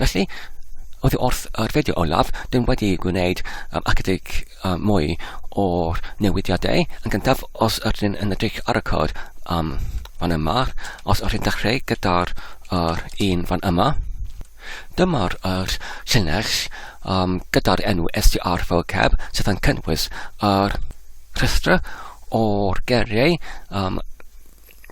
Felly, oedd wrth yr fideo olaf, dyn wedi gwneud um, ychydig um, mwy o'r newidiadau. Yn gyntaf, os ydyn yn edrych ar y cod um, fan yma, os ydyn dechrau gyda'r uh, un fan yma, dyma'r uh, llinell um, gyda'r enw SDR vocab sydd yn cynnwys yr uh, rhestr o'r geriau um,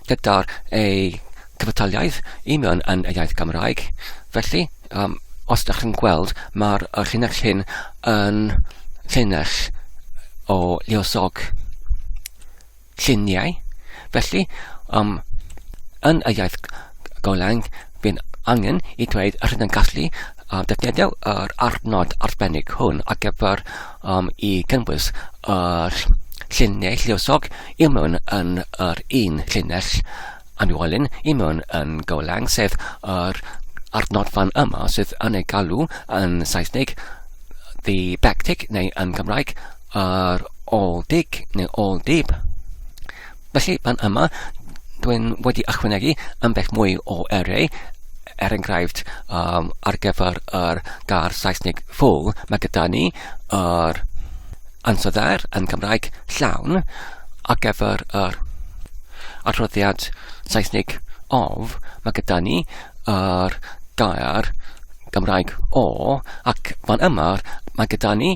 gyda'r ei cyfataliaeth i mewn yn y iaith Gymraeg. Felly, um, os da chi'n gweld, mae'r llinell hyn yn llinell o liosog lluniau. Felly, um, yn y iaith Golang, Bydd angen i dweud yr hyn yn gallu uh, defnyddio yr arnod arbennig hwn ar gyfer um, i gynnwys yr llinell lluosog i mewn yn yr un llinell anwolyn i mewn yn golang, sef yr arnod fan yma sydd yn ei galw yn Saesneg the back tick neu yn Gymraeg yr ôl dig neu ôl dib. Felly, pan yma, dwi'n wedi ychwanegu ambell mwy o erau, er enghraifft, um, ar gyfer yr gair Saesneg full, mae gyda ni yr ansoddair yn Cymraeg llawn, ar gyfer yr adroddiad Saesneg of, mae gyda ni yr gair Gymraeg o, ac fan yma, mae gyda ni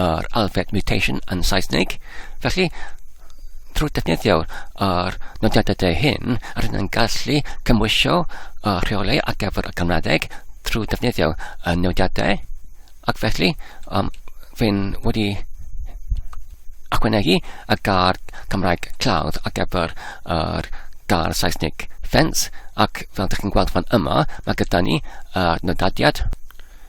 yr alfed mutation yn Saesneg. Felly, trwy defnyddio yr nodiadau hyn, rydyn yn gallu cymwysio y rheolau ar gyfer y Gymraeg trwy defnyddio y nodiadau, ac felly um, fe'n wedi acwenegu y gar Cymraeg clawdd ar gyfer yr gar Saesneg fence, ac fel ydych chi'n gweld fan yma, mae gyda ni y nodadiad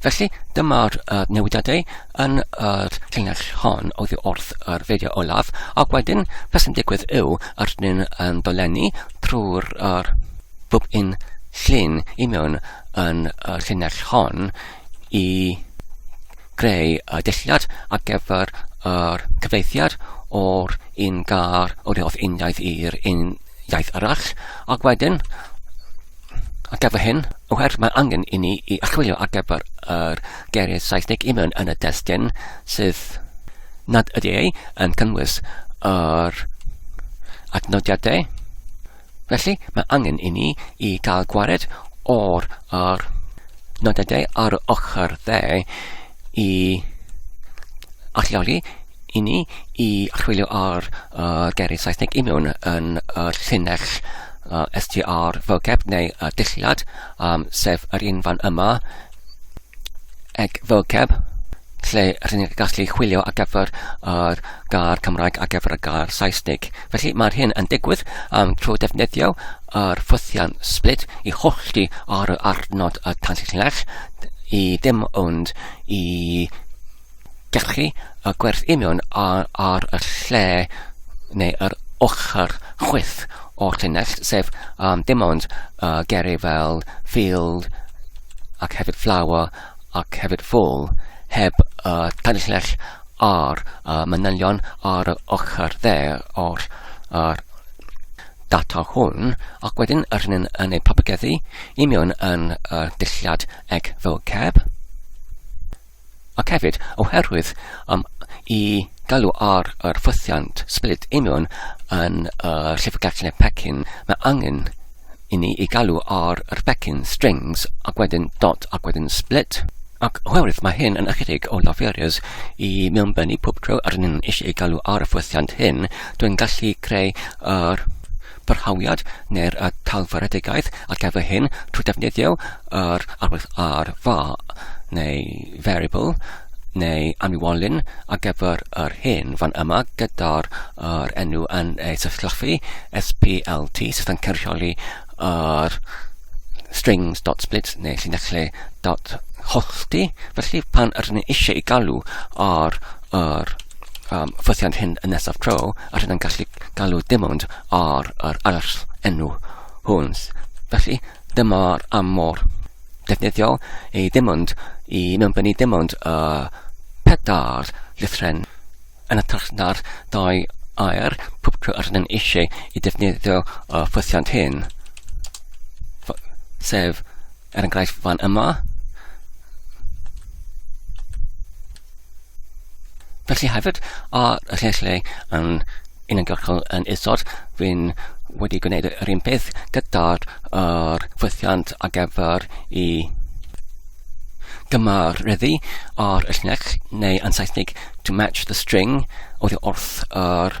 Felly, dyma'r uh, newidiadau yn yr uh, llinell hon oddi wrth yr fideo olaf, ac wedyn beth sy'n digwydd yw yr ydyn yn dolenni trwy'r uh, bwb un llun i mewn yn y uh, llinell hon i greu y uh, dilliad ar gyfer yr uh, cyfeithiad o'r un gar o'r wrth uniaith i'r un iaith arall, ac wedyn Ar gyfer hyn, oherwydd mae angen i ni i archwilio ar gyfer yr geiriau Saesneg i mewn yn y testyn sydd nad ydy ei yn cynnwys yr adnodiadau. Felly, mae angen i ni i gael gwared o'r, o'r nodadau ar y ochr dde i alluogi i ni i chwilio ar uh, geiriau Saesneg i mewn yn y llinell uh, str vocab neu uh, dilliad, um, sef yr un fan yma, eg vocab, lle rydyn ni'n gallu chwilio ar gyfer yr gair Cymraeg ar gyfer y gair Saesneg. Felly mae'r hyn yn digwydd um, trwy defnyddio yr ffwythiant split i hollti ar y arnod y tanllunell i dim ond i gallu y gwerth union ar, ar y lle neu yr ochr chwyth o'r llinell, sef um, dim ond uh, geru fel field ac hefyd flower ac hefyd full, heb uh, tanllell ar uh, manylion ar y ochr dde o'r, ar, data hwn ac wedyn rhyn yn, yn ei propageddu i mewn yn y dulliad eg fel ceb. Ac hefyd, oherwydd um, i galw ar yr ffwythiant split i mewn yn y uh, llyfrgell neu pecyn, mae angen i ni i galw ar yr pecyn strings ac wedyn dot ac wedyn split. Ac oherwydd mae hyn yn ychydig o laferys i mewnbennu pob tro rhyn yn eisiau ei galw ar y ffwythiant hyn, Dwi'n gallu creu yr byrhawiad neu'r y talfyredigaeth ar gyfer hyn trwy defnyddio yr arwydd ar fa neu variable neu anniwolyn ar gyfer yr hyn fan yma gyda'r yr enw yn ei sysllafu SPLT sydd yn cynrychioli yr strings.split neu llinellau dot hollti felly pan ydyn ni eisiau i galw ar yr yym ffythiant hyn yn nesaf tro, a rydyn yn gallu galw dim ond ar yr arall enw hwn. Felly, dyma'r am mor defnyddiol i dim ond i mewnbynnu dim ond y pedair llythren yn y na'r dau air pob tro yr ydyn eisiau i defnyddio y ffythiant hyn, sef Er enghraifft fan yma. Felly hefyd, ar y lle lle yn uniongyrchol yn isod, fi'n wedi gwneud yr un peth gyda'r er, ffwythiant ar gyfer i gymareddu ar y llinell, neu yn Saesneg, to match the string, oedd wrth yr er,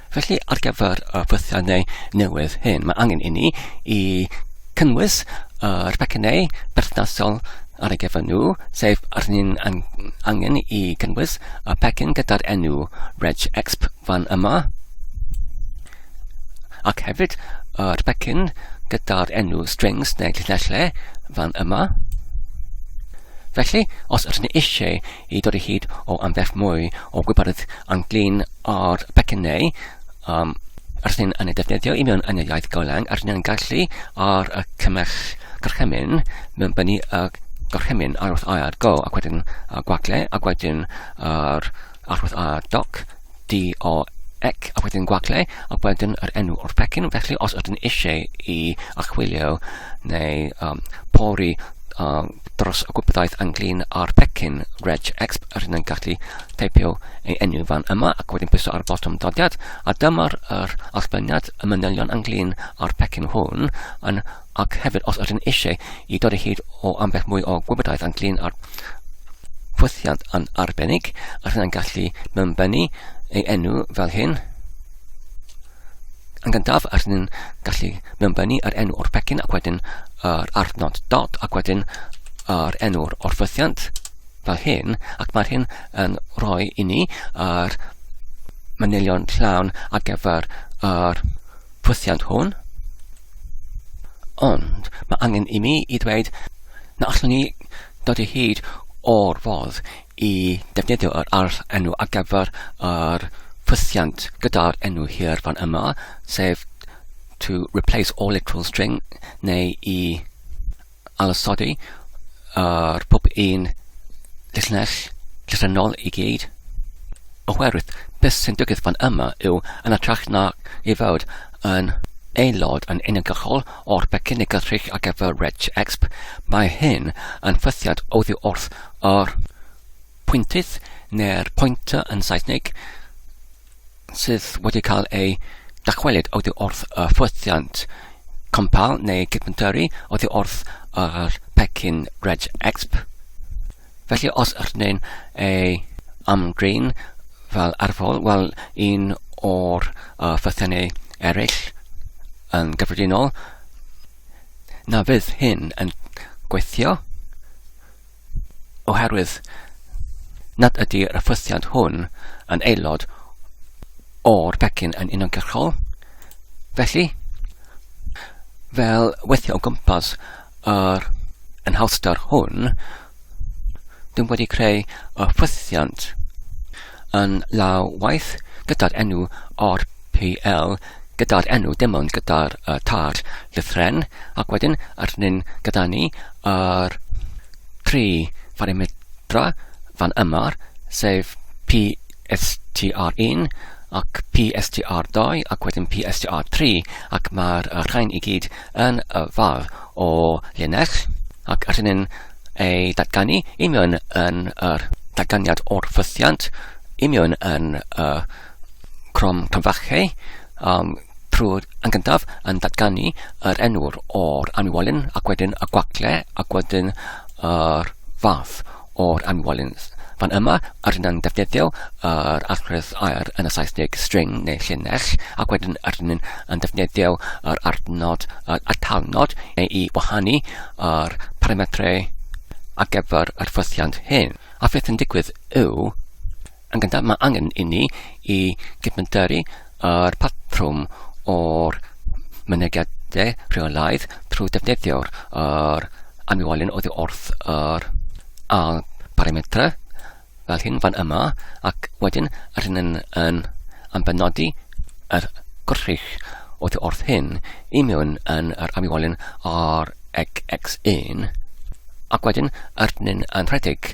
Felly, ar gyfer y ffwythiannau newydd hyn, mae angen inni i cynnwys yr pecynnau berthnasol ar ei gyfer nhw, sef ar ni'n angen i cynnwys y pecyn gyda'r enw reg exp fan yma, ac hefyd yr pecyn gyda'r enw strings neu llinellau fan yma. Felly, os ydyn ni eisiau i dod o hyd o ambell mwy o wybyrdd anglyn o'r pecyn neu um, yr hyn yn ei defnyddio i mewn yn y iaith golang a'r hyn yn gallu ar y cymell gorchymyn mewn bynu y gorchymyn ar wrth air go ac wedyn y gwagle ac wedyn yr arwrth air doc D, O, ec, a wedyn gwagle, a wedyn yr enw o'r pecyn. Felly, os ydyn eisiau i achwilio neu um, pori um, dros y gwybodaeth anglyn ar pecyn reg exp, yr hyn yn gallu teipio ei enw fan yma ac wedyn pwyso ar botwm dodiad, a dyma'r er allbyniad y manylion anglyn ar pecyn hwn yn ac hefyd os ydyn eisiau i dod o hyd o ambell mwy o gwybodaeth ynglyn â'r pwthiant yn arbennig, a rhywun yn gallu mynbennu ei enw fel hyn. Yn gyntaf, a rhywun gallu mynbennu yr enw o'r pecyn ac wedyn yr arnod dot ac wedyn yr enw'r o'r fythiant fel hyn, ac mae'r hyn yn rhoi i ni yr manylion llawn ar gyfer yr pwthiant hwn. Ond mae angen i mi i ddweud na allwn ni dod o hyd o'r fodd i defnyddio yr arth enw ar gyfer yr ffwythiant gyda'r enw hir fan yma, sef to replace all literal string, neu i addysodi ar pob un llinell llythrennol i gyd. Oherwydd, beth sy'n digwydd fan yma yw, yn ytrach na i fod yn aelod yn uniongyrchol o'r pecyn negydrych ar gyfer Reg Exp, mae hyn yn ffythiant oddi wrth yr pwyntydd neu'r pointer yn Saesneg, sydd wedi cael eu dychwelyd oddi wrth y ffwythiant compal neu cydfyntyrru oddi wrth yr pecyn Reg Exp. Felly os ydyn ei amdrin fel arfol, wel un o'r uh, ffwythiannau eraill yn gyffredinol, na fydd hyn yn gweithio. oherwydd nad ydy'r rhyffythiant hwn yn aelod o'r pecyn yn uniongyrchol. Felly, fel weithio o gwmpas yr enhawster hwn, dwi'n wedi creu y ffythiant yn law waith gyda'r enw o'r PL, gyda'r enw dim ond gyda'r uh, tar lythren, ac wedyn yr hyn gyda ni yr tri pharimetra fan yma, sef PSTR1 ac PSTR2 ac wedyn PSTR3 ac mae'r uh, rhain i gyd yn y far o linell ac yr hynny'n ei datganu i mewn yn yr datganiad o'r ffythiant i mewn yn y uh, Crom Clonfache, um, prwd yn gyntaf yn datganu yr enwr o'r anwolyn ac wedyn y gwacle ac wedyn yr fath o'r anwolyn. Fan yma, yr hyn yn defnyddio yr arglwydd air yn y Saesneg string neu llinell ac wedyn yr hyn yn defnyddio yr adnod yr atalnod neu i wahanu yr parametrau ar gyfer yr ffwythiant hyn. A beth yn digwydd yw Yn gyntaf, mae angen inni i gydmyntyru â'r patrwm o'r mynegiadau rheolaidd trwy defnyddio'r er anwywolyn oddi wrth yr al parametrau fel hyn fan yma ac wedyn yr hyn yn, yn ambenodi yr gwrthrych oddi wrth hyn i mewn yn yr anwywolyn ar x1 ac wedyn yr hyn yn rhedeg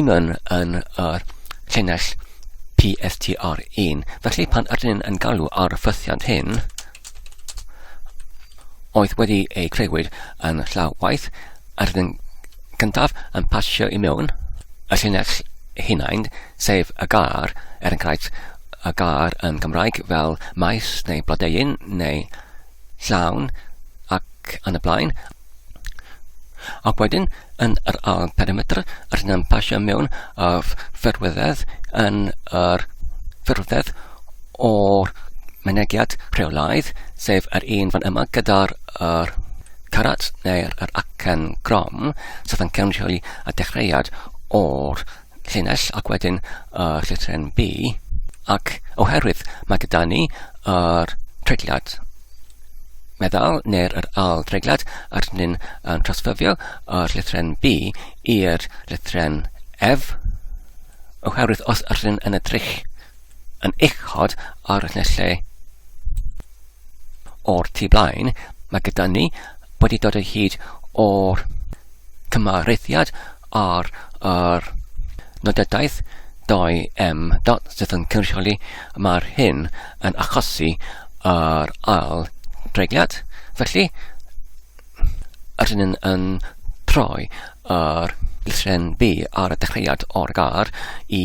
un yn yn yr llinell PSTR1. Felly pan ydyn ni'n yn galw ar y ffythiant hyn, oedd wedi ei creuwyd yn llaw waith, ydyn ni'n gyntaf yn pasio i mewn y llinell hunain, sef y gar, er enghraifft y gar yn Gymraeg fel maes neu blodeuyn neu llawn ac yn y blaen. Ac wedyn, yn yr ail perimetr, rydyn ni'n pasio mewn y ffurfwyddedd yn yr ffurfwyddedd o'r mynegiad rheolaidd, sef yr un fan yma gyda'r er, carat neu'r er acen grom, sef yn cynrychioli y dechreuad o'r llinell ac wedyn y uh, llythren B ac oherwydd mae gyda ni yr uh, treigliad meddal neu'r yr al dreigliad a rydyn ni'n uh, trosfyfio y uh, llythren B i'r llythren F oherwydd os rydyn yn edrych yn uchod ar y lle o'r tu blaen, mae gyda ni wedi dod o hyd o'r cymareddiad ar yr nodadaeth 2M dot sydd yn cynrychioli mae'r hyn yn achosi yr ail dreigliad. Felly, rydyn yn, yn troi yr llythren B ar y dechreuad o'r gar i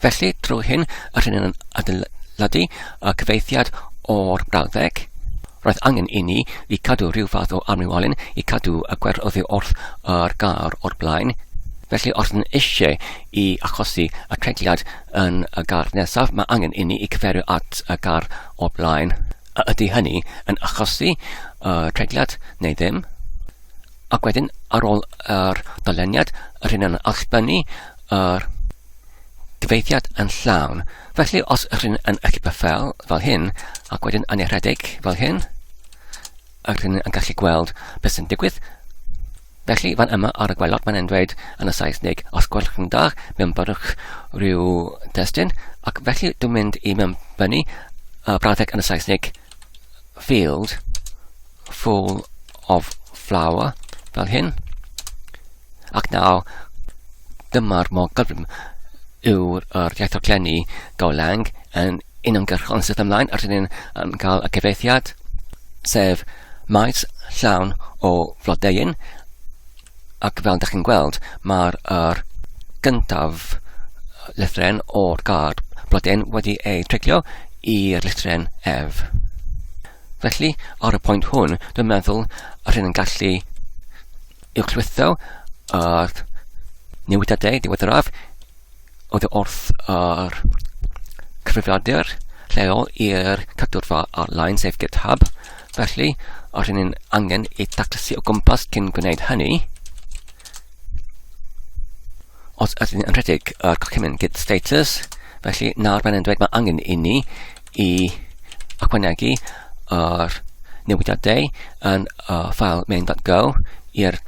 Felly, drwy hyn, yr hyn yn adeiladu y cyfeithiad o'r brawddeg, roedd angen i ni i cadw rhyw fath o amrywiolyn i cadw y gwer oddi wrth yr gar o'r blaen. Felly, os yn eisiau i achosi y treigliad yn y gar nesaf, mae angen i ni i cyfeirio at y gar o'r blaen. A ydy hynny yn achosi y treigliad neu ddim? Ac wedyn, ar ôl yr doleniad, yr hyn yn allbynnu yr gyfeithiad yn llawn. Felly, os yr hyn yn equipa fel, fel hyn, ac wedyn yn ei rhedeg fel hyn, yr hyn yn gallu gweld beth sy'n digwydd. Felly, fan yma ar y gwelod, mae'n dweud yn y Saesneg, os gwelwch yn dda, mewn byrwch rhyw destyn, ac felly dwi'n mynd i mewn fyny y brawddeg yn y Saesneg field full of flower, fel hyn. Ac nawr, dyma'r mor gyflym yw'r er iaith glenni Golang yn uniongyrchol yn syth ymlaen, a rydyn ni'n um, cael y cyfeithiad, sef maes llawn o flodeuyn, Ac fel da chi'n gweld, mae'r er gyntaf lythren o'r gard blodyn wedi ei treglio i'r lythren ef. Felly, ar y pwynt hwn, dwi'n meddwl yr hyn yn gallu uwchlwytho yr newidiadau diweddaraf oddi wrth yr cyfrifiadur lleol i'r cadwrfa ar-lein, sef GitHub. Felly, a rhywun yn angen ei daclysu o gwmpas cyn gwneud hynny. Os ydyn yn rhedeg y cochymyn git status, felly nawr mae'n dweud mae angen i ni i ychwanegu yr newidiadau yn y ffael main.go i'r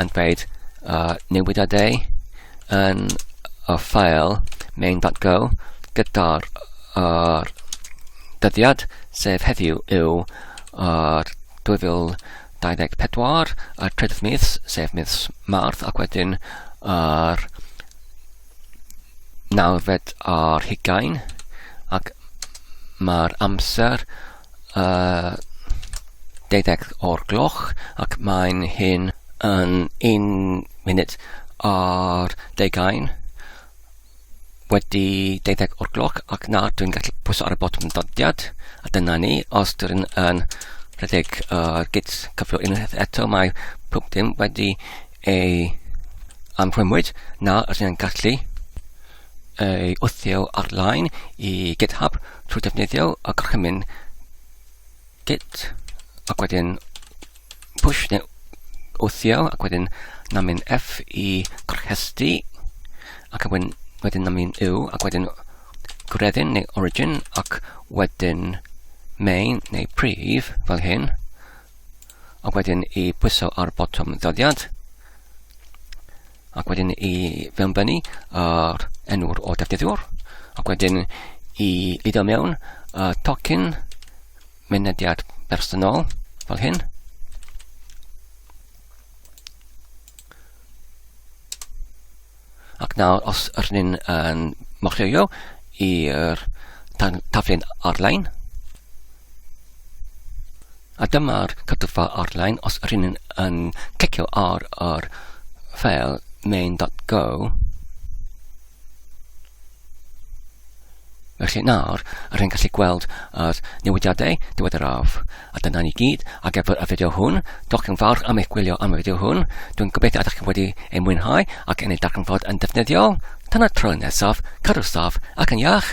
yn dweud uh, newidiadau yn y ffael main.go gyda'r uh, dyddiad sef heddiw yw uh, 2024 a'r trydydd mis sef mis Marth ac wedyn yr uh, nawfed ar hugain ac mae'r amser yy deuddeg o'r gloch ac mae'n hyn yn un munud ar deugain wedi deuddeg o'r gloch ac nawr dwi'n gallu pwyso ar y botwm dyddiad a dyna ni os dwi yn rhedeg uh, git cyflwyno unwaith eto mae pob dim wedi ei anrhymwyd nawr rydyn ni'n gallu ei wthio ar-lein i GitHub trwy defnyddio y gorchymyn git ac wedyn push neu wthio ac wedyn na mynd F i gorchesty ac wedyn, wedyn na mynd U ac wedyn gwreddyn neu origin ac wedyn main neu prif fel hyn ac wedyn i bwyso ar botwm ddoddiad ac wedyn i fewnbynnu ar enw'r o defnyddiwr, ac wedyn i lido mewn y tocyn mynediad bersonol fel hyn. Ac nawr, os yr ni'n yn mochreio i'r taflen ar-lein, A dyma'r cytgfa arlein, os ydyn ni yn clicio ar yr ffeil main.go, Felly nawr, yr hyn gallu gweld yr newidiadau diweddaraf. A dyna ni gyd ar gyfer y fideo hwn. Diolch yn fawr am eich gwylio am y fideo hwn. Dwi'n gobeithio ydych chi wedi ei mwynhau ac yn ei darganfod yn defnyddiol. Tan y tro nesaf, cadw saff ac yn iach.